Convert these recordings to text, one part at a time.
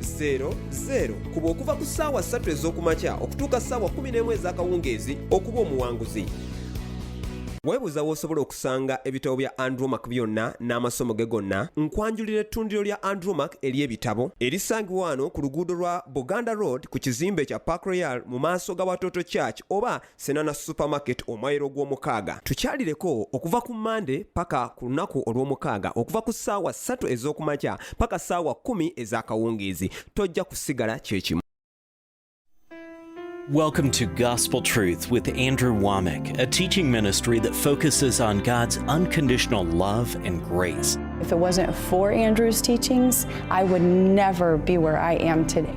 00 kuba okuva ku ssaawa 3 ez'okumakya okutuuka ssaawa 11 ez'akawungeezi okuba omuwanguzi weebuuza w'osobola okusanga ebitabo bya andromac byonna n'amasomo ge gonna nkwanjulira ettundiro lya andromac ery'ebitabo erisangibwa wano ku luguudo lwa buganda road ku kizimbe kya park royal mu maaso ga watoto church oba Senana Supermarket omwayiro gw'omukaaga tukyalireko okuva ku Monday paka ku lunaku olw'omukaaga okuva ku ssaawa ssatu ez'okumakya paka ssaawa kkumi ez'akawungeezi tojja kusigala kyekimu Welcome to Gospel Truth with Andrew Womack, a teaching ministry that focuses on God's unconditional love and grace. If it wasn't for Andrew's teachings, I would never be where I am today.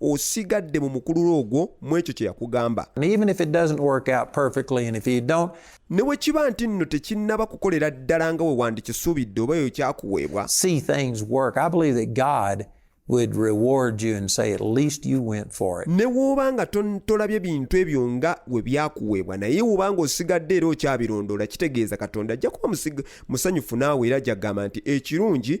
osigadde mu mukululo ogwo mu ekyo kye yakugamba ne bwe kiba nti nno tekinnaba kukolera ddala nga we wandikisuubidde oba eyo kyakuweebwa ne w'oba nga tolabye bintu ebyo nga we byakuweebwa naye w'oba nga osigadde era okyabirondoola kitegeeza katonda ajja kuba musanyufu naawe era jagamba nti ekirungi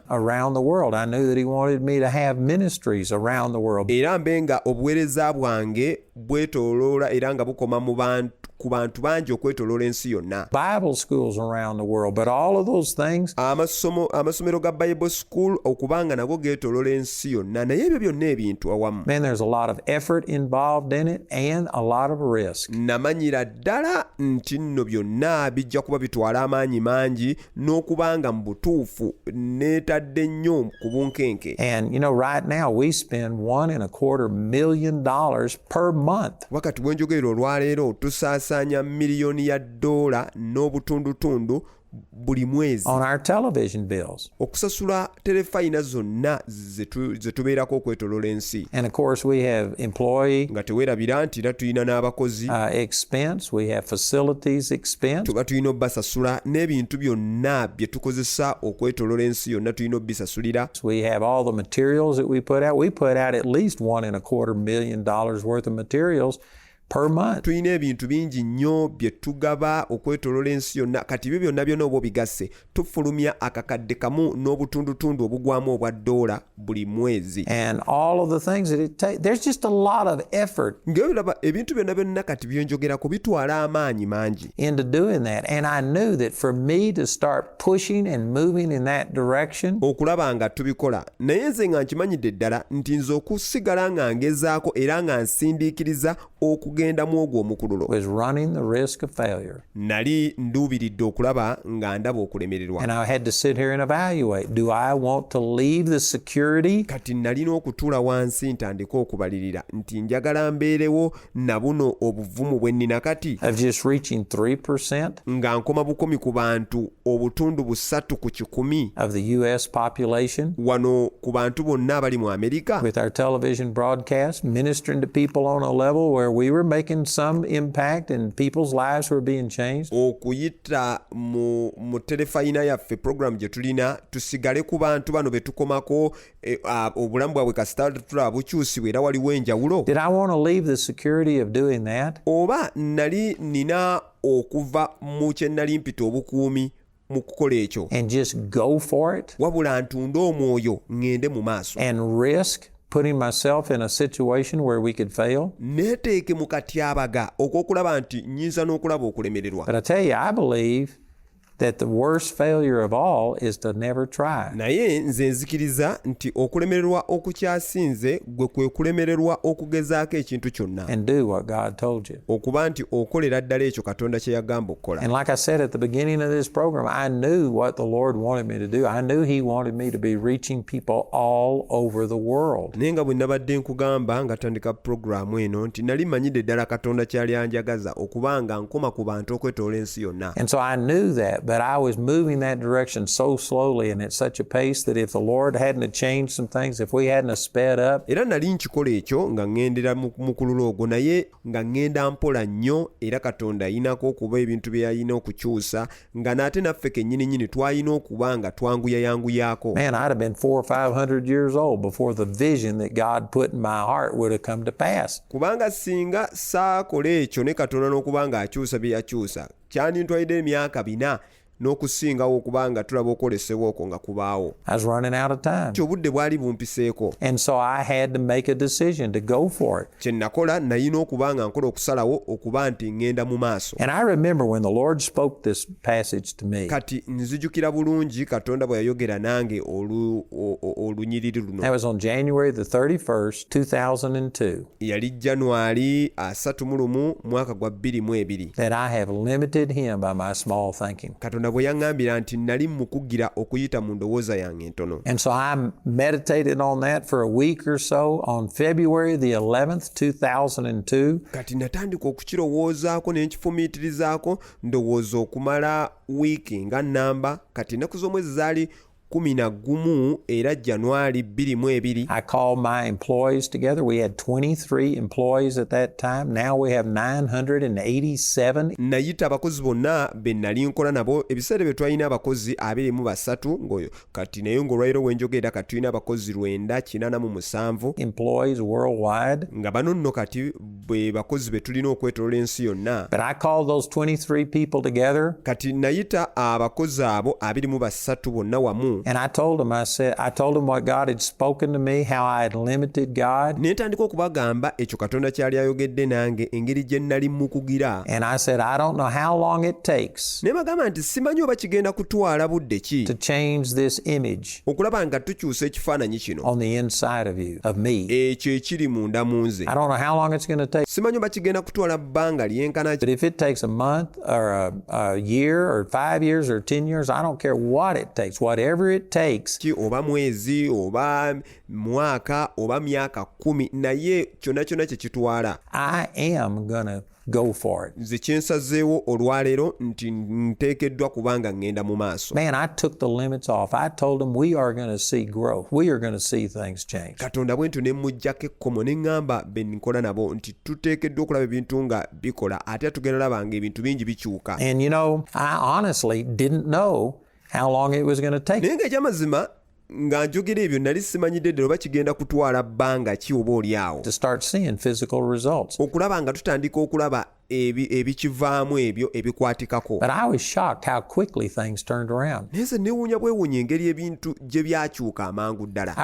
around the world. I knew that he wanted me to have ministries around the world. Era mbe nga obuweereza bwange bwetoloola era nga bukoma mu bantu ku bantu bangi okwetoloola ensi yonna bible schools around the world but all of those things amasomo amasomero ga bible school okubanga nago getoloola ensi yonna naye ebyo byonna ebintu awamu man there's a lot of effort involved in it and a lot of risk namanyira ddala nti nno byonna bijja kuba bitwala amaanyi mangi n'okubanga mu butuufu neetadde nnyo ku bunkenke wakati bwenjogerera olwaleero tusaasaanya miliyoni ya ddoola n'obutundutundu buli mwezi okusasula terefayina zonna ze tubeerako okwetolola ensi nga tewerabira nti era tulina n'abakozi uh, tuba tulina obubasasula n'ebintu byonna bye tukozesa okwetolola ensi yonna tulina obubisasulira per month. tulina ebintu bingi nnyo bye tugaba okwetolola ensi yonna kati ebyo byonna byona oba obigasse tufulumya akakadde kamu n'obutundutundu obugwamu obwa doola buli mwezi ngaolaba ebintu byonna byonna kati byenjogerako bitwala amaanyi mangi okulaba nga tubikola naye nze nga nkimanyidde ddala nti nze okusigala nga ngezaako era nga nsindiikiriza okugenda mu ogwo omukululo nali nduubiridde okulaba nga ndaba okulemererwa kati nalina okutuula wansi ntandike okubalirira nti njagala mbeerewo na buno obuvumu bwe nnina kati nga nkoma bukomi ku bantu obutundu busatu ku kikumi wano ku bantu bonna abali mu amerika okuyita mu terefayina yaffe programu gye tulina tusigale ku bantu bano be tukomako eh, obulamu bwabwe kasita tulaba bukyusibwa era waliwo enjawulo oba nali nina okuva mu kye nnali mpita obukuumi mu kukola ekyo wabula ntunde omwoyo ŋŋende mu maaso putting myself in a situation where we could fail. Neteeke mu katyabaga okw'okulaba nti nyinza n'okulaba okulemererwa. But I tell you, I believe that the worst failure of all is to never try. Naye nze nzikiriza nti okulemererwa okukyasinze gwe kwe kulemererwa okugezaako ekintu kyonna. And do what God told you. Okuba nti okolera ddala ekyo Katonda kye yagamba okukola. And like I said at the beginning of this program, I knew what the Lord wanted me to do. I knew he wanted me to be reaching people all over the world. Naye nga bwe nabadde nkugamba nga tandika programu eno nti nali manyidde ddala Katonda kyali anjagaza okuba nga nkoma ku bantu okwetoola ensi yonna. And so I knew that, but I was moving that direction so slowly and at such a pace that if the Lord hadn't changed some things, if we hadn't sped up. Era nali nkikola ekyo nga ŋŋendera mu mukululo ogwo naye nga ŋŋenda mpola nnyo era Katonda ayinako okuba ebintu bye yalina okukyusa nga n'ate naffe kennyini nnyini twalina okuba nga twanguyayanguyaako. Man, I'd have been four or five hundred years old before the vision that God put in my heart would have come to pass. kubanga singa saakola ekyo ne katonda n'okuba nga akyusa bye yakyusa kyandintwalidde emyaka bina n'okusingawo okuba nga tulaba okwolesebwa okwo nga kubaawo ti obudde bwali bumpiseeko kye nakola nayina okuba nga nkola okusalawo okuba nti ŋŋenda mu maaso kati nzijukira bulungi katonda bwe yayogera nange olunyiriri luno 2002 yali january asatu mu lumu mwaka gwa bbiri mu ebiri that I have limited him by my small thinking. katonda bwe yaŋŋambira nti nali mukugira okuyita mu ndowooza yange entono And so I meditated on that for a week or so on February the 11th, 2002. kati natandika okukirowoozaako ne nkifumiitirizaako ndowooza okumala wiiki nga nnamba kati ennaku z'omwezi zaali kumi na gumu era January bbiri mu ebiri. I called my employees together. We had 23 employees at that time. Now we have 987. Nayita abakozi bonna be nali nkola nabo ebiseera bye twalina abakozi abiri mu basatu ng'oyo kati naye ng'olwaliro we njogera kati tulina abakozi lwenda kinaana mu musanvu. Employees worldwide. Nga bano nno kati bwe bakozi be tulina okwetolola ensi yonna kati nayita abakozi abo abiri mu basatu bonna wamu ne ntandika okubagamba ekyo katonda kyali ayogedde nange engeri gye nnali mukugira ne bagamba nti simanyi oba kigenda kutwala budde ki okulaba nga tukyusa ekifaananyi kino ekyo ekiri munda mu nze simanyi oba kigenda kutwala bbanga lyenkana ki oba mwezi oba mwaka oba myaka kumi naye kyonna kyonna kye kitwala I am gonna Go for it. nze kyensazeewo olwaleero nti nteekeddwa kubanga ŋŋenda mu maaso Man, I took the limits off. I told him we are going to see growth. We are going to see things change. katonda bwentyo ne mmuggyako ekkomo ne ŋŋamba be nkola nabo nti tuteekeddwa okulaba ebintu nga bikola ate tugenda laba nga ebintu bingi bikyuka And you know, I honestly didn't know how long it was going to take. naye nga ekyamazima nga njogera ebyo nali simanyidde ddala oba kigenda kutwala bbanga ki oba oli awo okulaba nga tutandika okulaba ebikivaamu ebyo ebikwatikako naye nze newuunya bwewuunya engeri ebintu gye byakyuka amangu ddala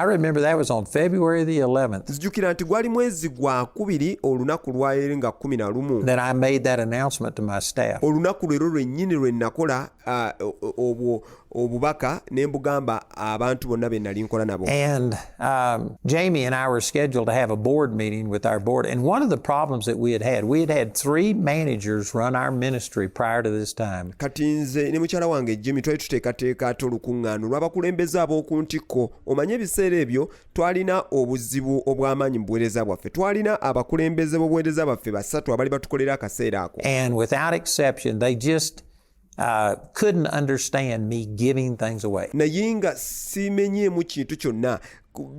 nzijukira nti gwali mwezi gwa kubiri olunaku lwayeri nga kumi na lumu olunaku lwero lwennyini lwe nakola uh, obwo obubaka ne mbugamba abantu bonna be nali nkola nabo and um, jamie and i were scheduled to have a board meeting with our board and one of the problems that we had had we had had three managers run our ministry prior to this time kati nze ne mukyala wange jimmy twali tuteekateeka ate olukuŋŋaano lw'abakulembeze ab'oku ntikko omanye ebiseera ebyo twalina obuzibu obw'amaanyi mu buweereza bwaffe twalina abakulembeze b'obuweereza baffe basatu abali batukolera akaseera ako and without exception they just Uh, couldn't understand me giving things away. naye nga simenyeemu kintu kyonna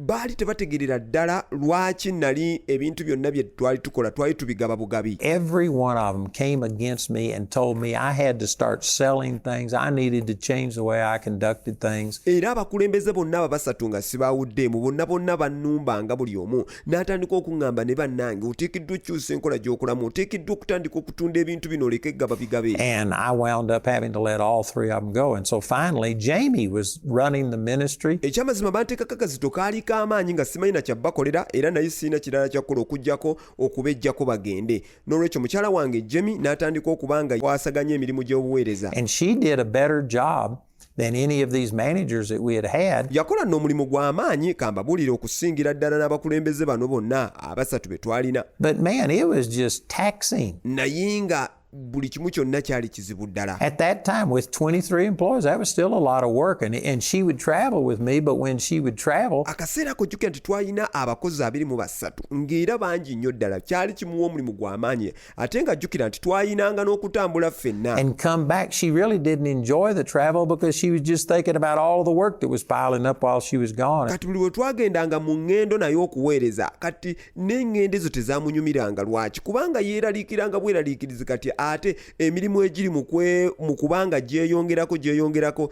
baali tebategerera ddala lwaki nali ebintu byonna bye twali tukola twali tubigaba bugabi every one of them came against me and told me i had to start selling things i needed to change the way i conducted things era abakulembeze bonna ababasatu nga sibaawuddeemu bonna bonna bannumbanga buli omu n'atandika okuŋŋamba ne bannange oteekeddwa okukyusa enkola gy'okulamu oteekeddwa okutandika okutunda ebintu bino oleke gaba bigabe and i wound up having to let all three of them go and so finally jamie was running the ministry ekyamazima banteekako akazito kaali k'amaanyi nga simanyi na kyabbakolera era naye sirina kirala kyakukola okugyako okubejjako bagende n'olwekyo mukyala wange jamie n'atandika okuba nga kwasaganya emirimu gy'obuweereza and she did a better job than any of these managers that we had had. Yakola n'omulimu gw'amaanyi kambabuulira okusingira ddala n'abakulembeze bano bonna abasatu be twalina. But man, it was just taxing. Naye nga buli kimu kyonna kyali kizibu ddala at that time with 23 employees that was still a lot of work and, and she would travel with me but when she would travel akaseera ko jukira nti twalina abakozi abiri mu basatu ng'era bangi nnyo ddala kyali kimuwa omulimu gw'amaanyi ate nga jjukira nti twayinanga n'okutambula ffenna and come back she really didn't enjoy the travel because she was just thinking about all the work that was piling up while she was gone kati buli we twagendanga mu ŋŋendo naye okuweereza kati n'eŋŋendo ezo tezamunyumiranga lwaki kubanga yeeraliikiranga bweraliikirizi kati ate emirimu egiri mu kubanga gyeyongerako gyeyongerako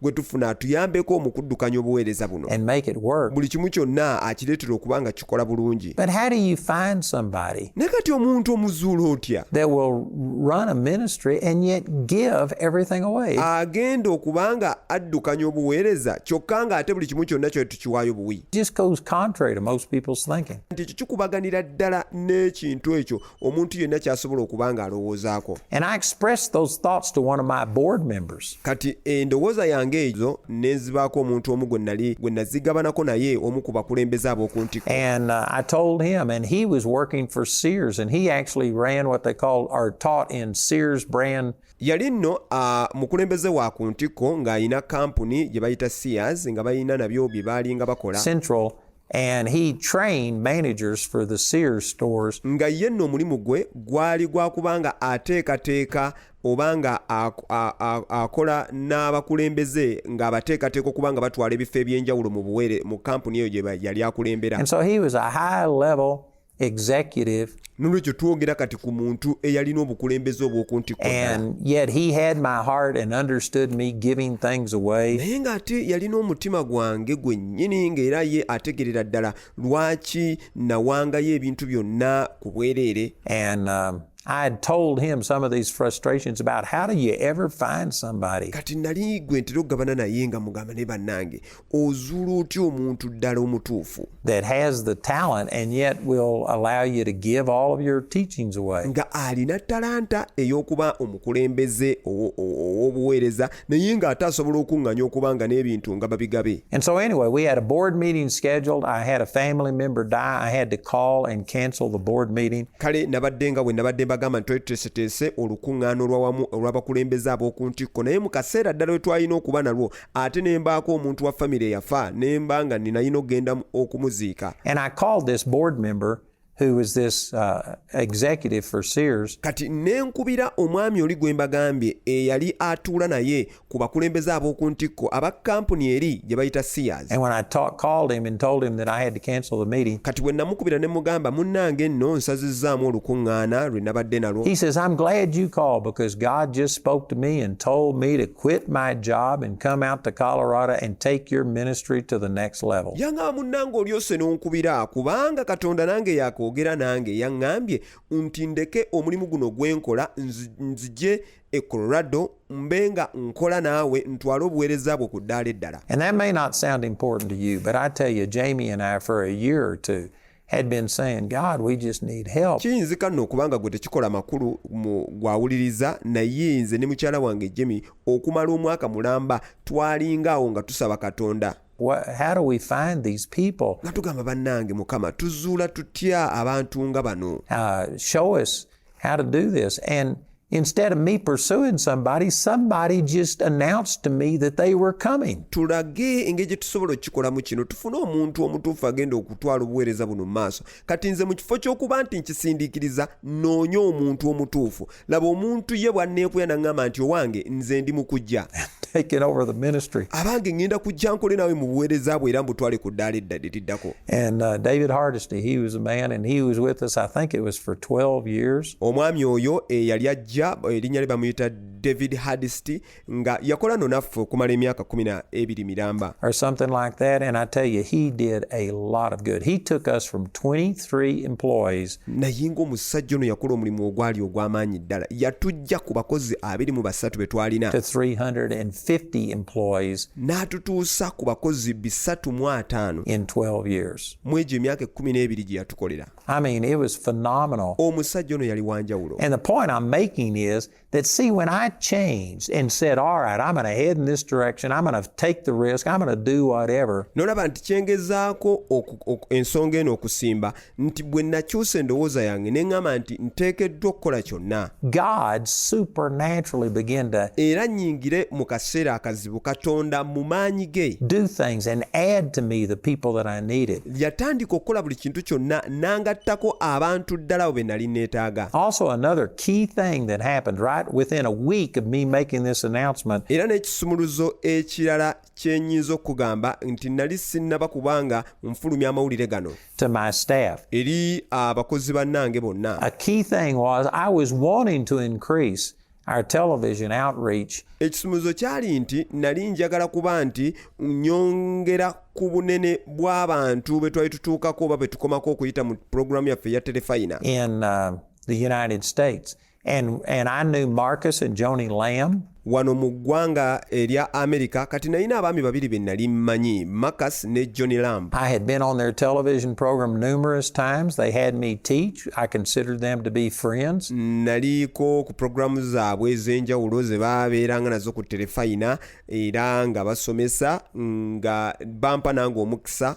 gwe tufuna atuyambeko mu kuddukanya obuweereza buno buli kimu kyonna akireetera okuba nga kikola bulungi ne kati omuntu omuzuula otya agenda okuba nga addukanya obuweereza kyokka nga ate buli kimu kyonna kyoe tukiwaayo buwi nti ekyo kikubaganira ddala n'ekintu ekyo omuntu yenna kyasobola okuba nga alowoozaako kati endowooza yange ezo nenzibaako omuntu omu gwe nali gwe nazigabanako naye omu ku bakulembeze ab'oku ntiko uh, yali nno uh, mukulembeze wa ku ntikko ng'alina kampuni gye bayita sears nga balina nabyo bye baalinga bakola And he trained managers for the Sears stores. nga ye nno omulimu gwe gwali gwa kuba nga ateekateeka oba nga ak- a- a- akola n'abakulembeze ng'abateekateeka okuba nga batwala ebifo eby'enjawulo mu buweere mu kampuni eyo gye ba- yali akulembera And so he was a high level executive nolwekyo twogera kati ku muntu eyalina obukulembeze obw'oku ntikkonaye ng'ate yalina omutima gwange gwennyini ng'era ye ategerera ddala lwaki nawangayo ebintu byonna ku bwereere um, I had told him some of these frustrations about how do you ever find somebody. Kati nali gwe ntera okugabana naye nga mugamba ne bannange ozuula otya omuntu ddala omutuufu nga alina talanta ey'okuba omukulembeze ow'obuweereza naye ng'ate asobola okuŋŋanya okuba nga n'ebintu nga babigabe kale nabadde nga bwe nabadde mbagamba nti twali olukuŋŋaana olwawamu olw'abakulembeze ab'oku ntikko naye mu kaseera ddala we twalina okuba nalwo ate ne mbaako omuntu wa famire eyafa ne mba nga ninayina okugenda okumuziika who was this uh, executive for Sears. Kati nenkubira omwami oli gwe mbagambye eyali atuula naye ku bakulembeze ab'oku ntikko aba kampuni eri gye bayita Sears. And when I talk, called him and told him that I had to cancel the meeting. Kati bwe namukubira ne mugamba munnange nno nsazizzaamu olukuŋŋaana lwe nabadde nalwo. He says, I'm glad you called because God just spoke to me and told me to quit my job and come out to Colorado and take your ministry to the next level. Yanga munango olyose n'onkubira kubanga Katonda nange yakoogera nange yangambye nti ndeke omulimu guno gwe nkola nzije e Colorado mbe nga nkola naawe ntwale obuweereza bwo ku ddaala eddala. And that may not sound important to you, but I tell you, Jamie and I for a year or two had been saying, God, we just need help. kiyinzika nno okuba nga gwe tekikola makulu mu gwawuliriza naye nze ne mukyala wange jemi okumala omwaka mulamba twalinga awo nga tusaba katonda What, how do we find these people? nga tugamba bannange mukama tuzuula tutya abantu nga bano Uh, show us how to do this. And Instead of me pursuing somebody, somebody just announced to me that they were coming. Tulage engeri gye tusobola okukikolamu kino tufune omuntu omutuufu agenda okutwala obuweereza buno mu maaso kati nze mu kifo ky'okuba nti nkisindiikiriza noonye omuntu omutuufu laba omuntu ye bwanneekuya naŋŋamba nti owange nze ndi mu kujja abange ŋŋenda kujja nkole naawe mu buweereza bwe era mbutwale ku ddaala eddadiriddako And uh, David Hardesty, he was a man and he was with us, I think it was for 12 years. Omwami oyo eyali eh, ajja erinnya eh, lye bamuyita David Hardesty nga yakola no naffe okumala emyaka kumi na ebiri miramba. Or something like that and I tell you he did a lot of good. He took us from 23 employees. Naye ng'omusajja ono yakola omulimu ogwali ogw'amaanyi ddala. Yatujja ku bakozi abiri mu basatu be twalina. To 350. 50 employees n'atutuusa ku bakozi bisatu mu ataano in 12 years. mu egyo emyaka ekkumi n'ebiri gye yatukolera I mean, it was phenomenal. omusajja ono yali wanjawulo And the point I'm making is that, see, when I changed and said, all right, I'm going to head in this direction, I'm going to take the risk, I'm going to do whatever, n'olaba nti kyengezaako oku- oku- ensonga eno okusimba nti bwe nakyusa endowooza yange ne ŋŋamba nti nteekeddwa okukola kyonna era nnyingire mu kaseera akazibu katonda mu maanyi ge yatandika okukola buli kintu kyonna n'angattako abantu ddala abo be nali neetaaga era n'ekisumuluzo ekirala kyenyinza okugamba nti nali sinnaba kubanga nfulumya amawulire gano eri abakozi bannange bonna ekisumuzo kyali nti nali njagala kuba nti nyongera ku bunene bw'abantu bwe twali tutuukako oba bwe tukomako okuyita mu pulogulaamu yaffe eya telefayina uh, And, and I knew Marcus and Joni Lamb. wano mu ggwanga erya amerika kati nalina abaami babiri be nali mmanyi marcus ne johnny lamb i had been on their television program numerous times they had me teach i considered them to be friends naliko ku programu zaabwe ez'enjawulo ze babeeranga nazo ku terefayina era nga basomesa nga bampa nange omukisa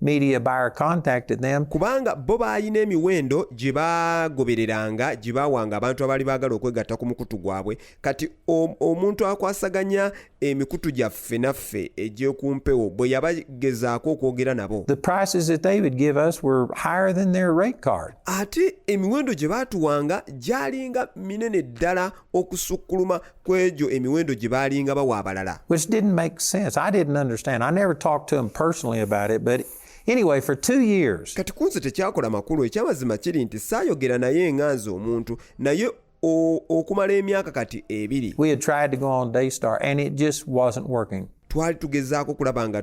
media buyer contacted them. kubanga bo baalina emiwendo gye bagobereranga gye baawanga abantu abaali baagala okwegatta ku mukutu gwabwe kati omuntu akwasaganya emikutu gyaffe naffe egy'okumpewo bwe yabagezaako okwogera nabo ate emiwendo gye baatuwanga gyalinga minene ddala okusukkuluma ku egyo emiwendo gye baalinga bawa abalala which didn't make sense i didn't understand i never talked to him personally about it but Anyway, for two years. kati kunze tekyakola makulu ekyamazima kiri nti saayogera naye nga nze omuntu naye okumala emyaka kati ebiri we had tried to go on daystar and it just wasn't working twali tugezaako okulaba nga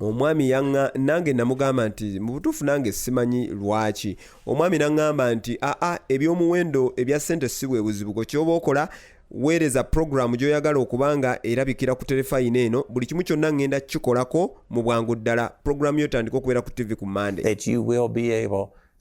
omwami yanga nange namugamba nti mu butuufu nange simanyi lwaki omwami naŋŋamba nti aa ebyomuwendo ebya ssente si bwe buzibu kwe kyoba okola weereza pulogulaamu gy'oyagala okuba nga erabikira ku terefayina eno buli kimu kyonna ŋŋenda kukikolako mu bwangu ddala pulogulaamu yo tandika okubeera ku ttivi ku mande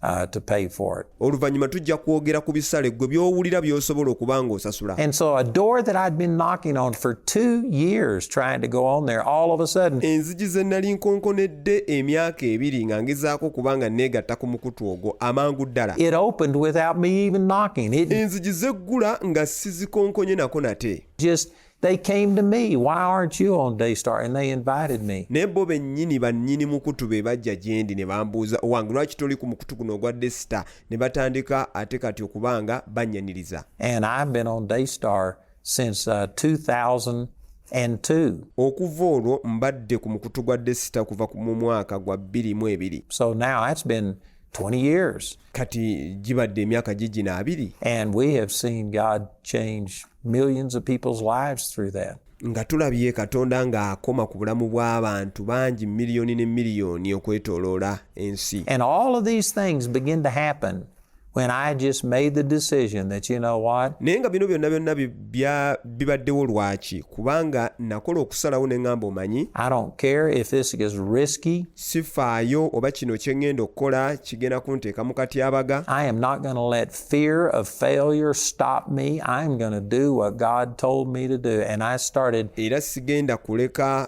Uh, to pay for it. oluvannyuma tujja kwogera ku bisale ggwe by'owulira by'osobola okuba ng'osasula and so a door that i'd been knocking on for two years trying to go on there all of a sudden enzigi ze nnali nkonkonedde emyaka ebiri nga ngezaako okuba nga neegatta ku mukutu ogwo amangu ddala it opened without me even knocking enzigi zeggula nga sizikonkonye nako nate just They came to me, why aren't you on Daystar? And they invited me. naye bo bennyini bannyini mukutu be bajja gye ndi ne bambuuza owange lwaki toli ku mukutu guno ogwa desita ne batandika ate kati okuba nga bannyaniriza And I've been on Daystar since uh, 2002. okuva olwo mbadde ku mukutu gwa desita kuva ku- mu mwaka gwa bbiri mu ebiri So now that's been 20 years. kati gibadde emyaka gigina abiri nga tulabye katonda ng'akoma ku bulamu bw'abantu bangi miliyoni ne miliyoni okwetoloola ensi And all of these things begin to happen when I just made the decision that you know what naye nga bino byonna byonna bya bibaddewo lwaki kubanga nakola okusalawo ne ŋŋamba omanyi sifaayo oba kino kye ŋŋenda okukola kigenda kunteeka mu katyabaga era sigenda kuleka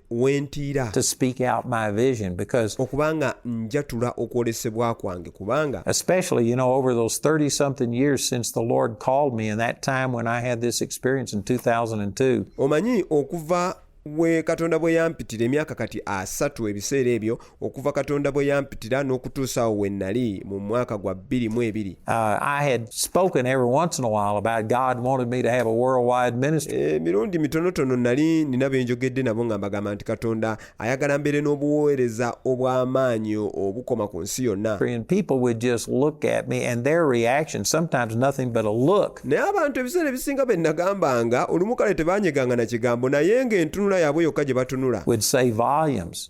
wentiira okuba nga njatula okwolesebwa kwange kubanga especially you know over those 30 something years since the lord called me and that time when i had this experience in 2002 omanyi okuva we katonda bwe yampitira emyaka kati asatu ebiseera ebyo okuva katonda bwe yampitira n'okutuusa awo we nnali mu mwaka gwa bbiri mu ebiri emirundi mitonotono nnali nina be njogedde nabo nga mbagamba nti katonda ayagala mbeere n'obuweereza obw'amaanyi obukoma ku nsi yonna naye abantu ebiseera ebisinga be nnagambanga olumu kale tebanyeganga na kigambo naye ng'entunula yaabwe yokka gye batunula would say volumes.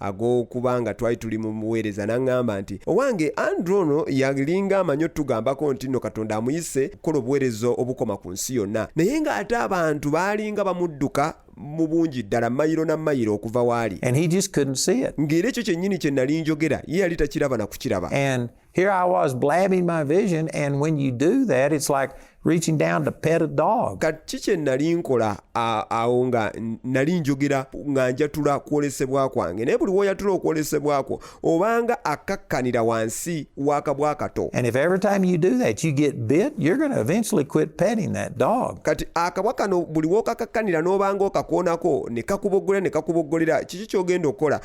ag'okuba nga twali tuli mu buweereza n'aŋŋamba nti owange andrew ono yalinga amanyi otugambako nti nno katonda amuyise okukola obuweereza obukoma ku nsi yonna naye ng'ate abantu baalinga bamudduka mu bungi ddala mayiro na mayiro okuva waali ng'era ekyo kyennyini kye nali njogera ye yali takiraba na kukiraba Here I was blabbing my vision, and when you do that, it's like reaching down to pet a dog. kati kye nali nkola a- awo nga n- nali njogera nga njatula kwolesebwa kwange naye buli woyatula okwolesebwa kwo obanga akakkanira wansi w'akabwa kato And if every time you do that, you get bit, you're going to eventually quit petting that dog. kati akabwa kano buli wokakakkanira n'obanga okakoonako ne kakuboggolera ne kakuboggolera kiki ky'ogenda okukola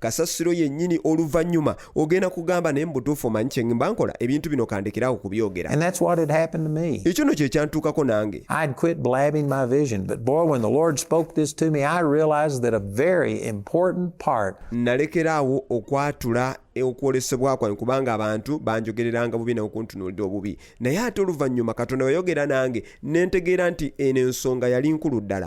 kasasiro yennyini oluvannyuma ogenda kugamba naye mubutuufu omanyi kyengimba nkola ebintu bino kandekerawo kubyogera ekyo no kyekyantuukako nange nalekeraawo okwatula okwolesebwa kwange kubanga abantu banjogereranga bubi naokuntunuulira obubi naye ate oluvannyuma katonda weyogera nange nentegeera nti eno ensonga yali nkulu ddala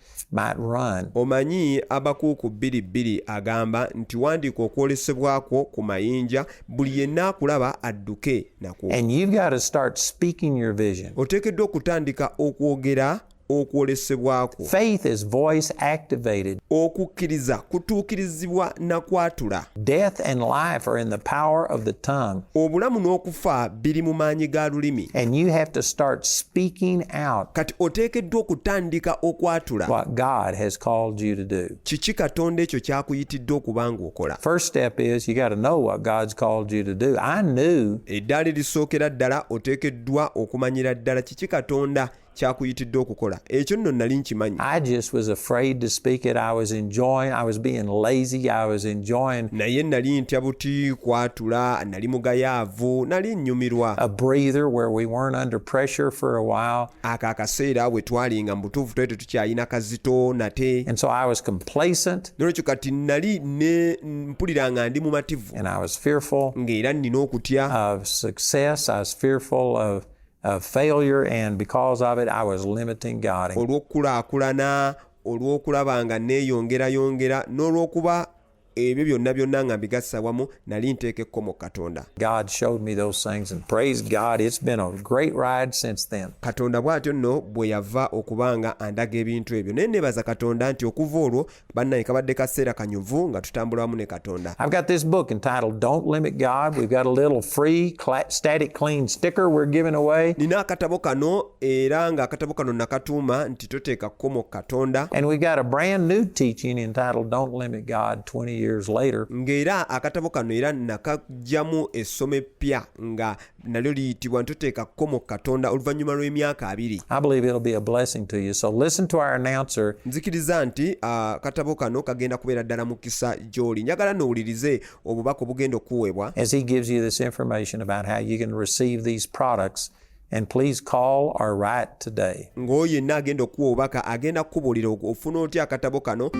Omanyi, Abakuuku bbiri bbiri agamba nti wandiika okwolesebwa kwo ku mayinja, buli yenna akulaba adduke nakwo. Oteekeddwa okutandika okwogera okwolesebwa kwo. Okukkiriza kutuukirizibwa na kwatula. Death and life are in the power of the tongue. Obulamu n'okufa biri mu maanyi ga lulimi. And you have to start speaking out. Kati oteekeddwa okutandika okwatula. What God has called you to do. Kiki Katonda ekyo kyakuyitidde okuba ng'okola. First step is you got to know what God's called you to do. I knew. Eddaala erisookera ddala oteekeddwa okumanyira ddala kiki Katonda kyakuyitidde okukola ekyo nno nali nkimanyi naye nali ntya buti kwatula nali mugayaavu nali nnyumirwa ako akaseera bwe twalinga mu butuufu twali tetukyalina kazito nate nolwekyo kati nali ne mpulira nga ndi mumativu ng'era nnina okutya olw'okukulaakulana olw'okulaba nga neeyongerayongera n'olw'okuba ebyo byonna byonna nga mbigassa wamu nali nteeka ekkomo katonda katonda bw'atyo nno bwe yava okuba nga andaga ebintu ebyo naye neebaza katonda nti okuva olwo Bannaye kabadde kaseera kanyuvu nga tutambula wamu ne Katonda. I've got this book entitled Don't Limit God. We've got a little free static clean sticker we're giving away. Nina akatabo kano era nga akatabo kano nakatuuma nti toteeka kkomo Katonda. And we've got a brand new teaching entitled Don't Limit God 20 years later. Ng'era akatabo kano era nakajjamu essomo eppya nga nalyo liyitibwa ntuteeka kkomo katonda oluvannyuma lw'emyaka abiri nzikiriza nti uh, katabo kano kagenda kubeera ddala mukisa gy'oli njagala nowulirize obubaka obugenda okuweebwa ng'oyo yenna agenda okuwa obubaka agenda kukubuulira ofuna otya akatabo kano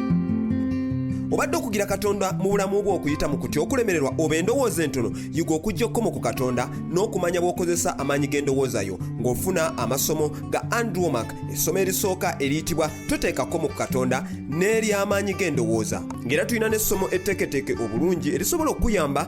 obadde okugira katonda mu bulamu bwo okuyita mu kutya okulemererwa oba endowooza entono yiga okujja okukoma ku katonda n'okumanya bw'okozesa amaanyi g'endowooza yo ng'ofuna amasomo ga andromak essomo erisooka eriyitibwa toteeka komo ku katonda n'ery'amaanyi g'endowooza ng'era tulina n'essomo etteeketeeke obulungi erisobola okukuyamba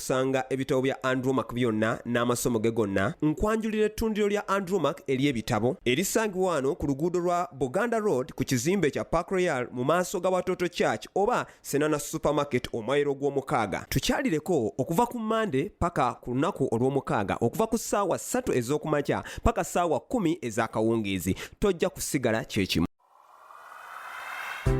Sanga ebitabo bya Andromac byonna n'amasomo ge gonna. Nkwanjulira ettundiro lya Andromac ery'ebitabo erisangibwa wano ku luguudo lwa Buganda Road ku kizimbe kya Park Royal mu maaso ga Watoto Church oba Senana Supermarket omwayiro gw'omukaaga. Tukyalireko okuva ku Monday paka ku lunaku olw'omukaaga okuva ku ssaawa ssatu ez'okumakya paka ssaawa kkumi ez'akawungeezi. Tojja kusigala kye kimu.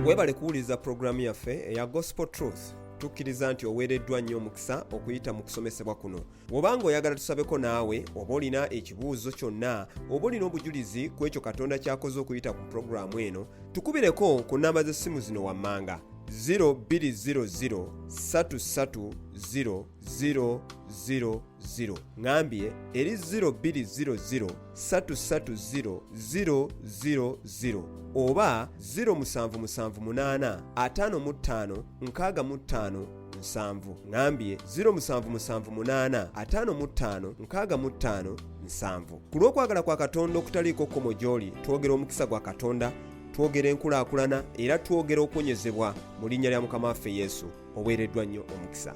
webale kuwuliriza pulogulaamu yaffe eya gospel truth tukkiriza nti oweereddwa nnyo omukisa okuyita mu kusomesebwa kuno woba nga oyagala tusabeko naawe oba olina ekibuuzo kyonna oba olina obujulizi ku ekyo katonda kyakoze okuyita ku pulogulaamu eno tukubireko ku nnamba z'essimu zino wammanga 0200 33 000 0 ngambye eri 0200330000 oba 07785565 nsanvu ngambye 07785565 nsanvu ku lw'okwagala kwa katonda okutaliiko kkomo gy'oli twogera omukisa gwa katonda twogera enkulaakulana era twogera okuwonyezebwa mu linnya lya mukama waffe yesu oweereddwa nnyo omukisa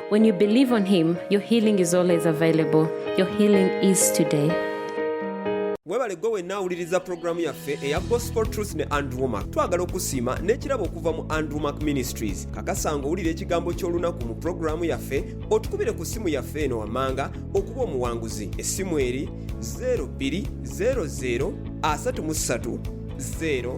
When you believe on him, your healing is always available. Your healing is today. webale gwe wenna awuliriza pulogulaamu yaffe eya gospel truth ne andrew mak twagala okusiima n'ekirabo okuva mu andrew mak ministries kakasa nga owulira ekigambo ky'olunaku mu pulogulaamu yaffe otukubire ku ssimu yaffe eno wammanga okuba omuwanguzi essimu eri 0200 33 0